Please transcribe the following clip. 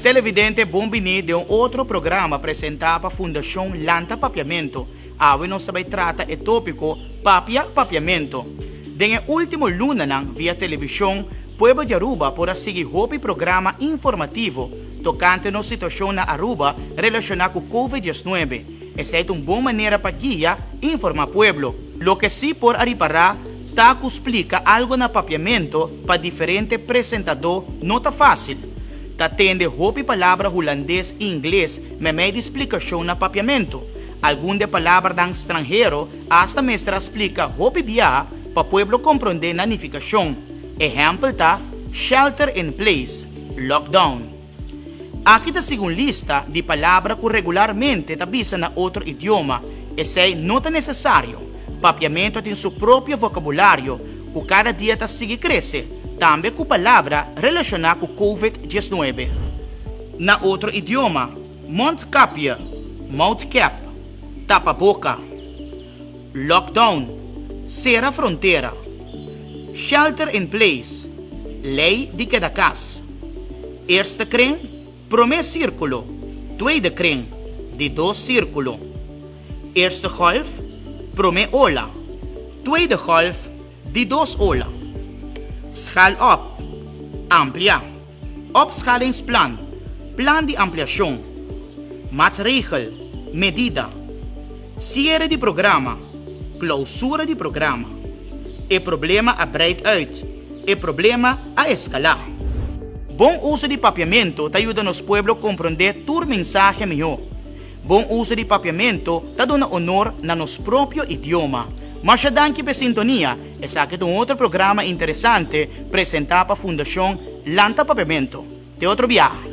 Televidente bon bini den un otro programa presenta pa Fundacion Lanta Papiamento, awe nos ta bay trata e topico Papia Papiamento. Den e ultimo lunanan via television pueblo di Aruba por a sigui hopi programa informativo tocante nos situacion na Aruba relaciona cu Covid diesnuebe, Esei ta un bon manera pa guia i informá pueblo. Loke sí por a ripará ta ku splika algu na papiamentu pa diferente presentadó no ta fásil. Ta tende hopi palabra hulandes i ingles meimei di splikashon na papiamentu. Algun den palabranan stranhero asta mester a splika hopi biaha pa pueblo komprondé na nifikashon. Ehèmpel ta, shelter in place, lockdown. Aki ta segun lista di palabra ku regularmente ta bisa na otro idioma, esei no ta nesesario. Papiamento tin su propio vocabulario ku kada dia ta sigui krese, tambe ku palabra relashoná ku covid diesnuebe. Na otro idioma, mondkapje, mouthcap, tapaboka. Lockdown, sera frontera. Shelter in place, lei di keda kas. Eerste kring, prome sirkulo, tweede kring, di dos sirkulo. Eerste golf, prome ola, tweede golf, di dos ola. Schal op, amplia. Opskalingsplan, plan di ampliashon, maatsregel, medida, siere di programa, klousura di programa, e problema a breid uit, e problema a eskalá. Bon uso di papiamentu ta yuda nos pueblo komprondé tur mensahe mihó. Bon uso di papiamento ta duna honor na nos propio idioma. Masha danki p'e sintonia, esaki ta un otro programa interesante presenta pa Fundacion Lanta Papiamento. Te otro biaha.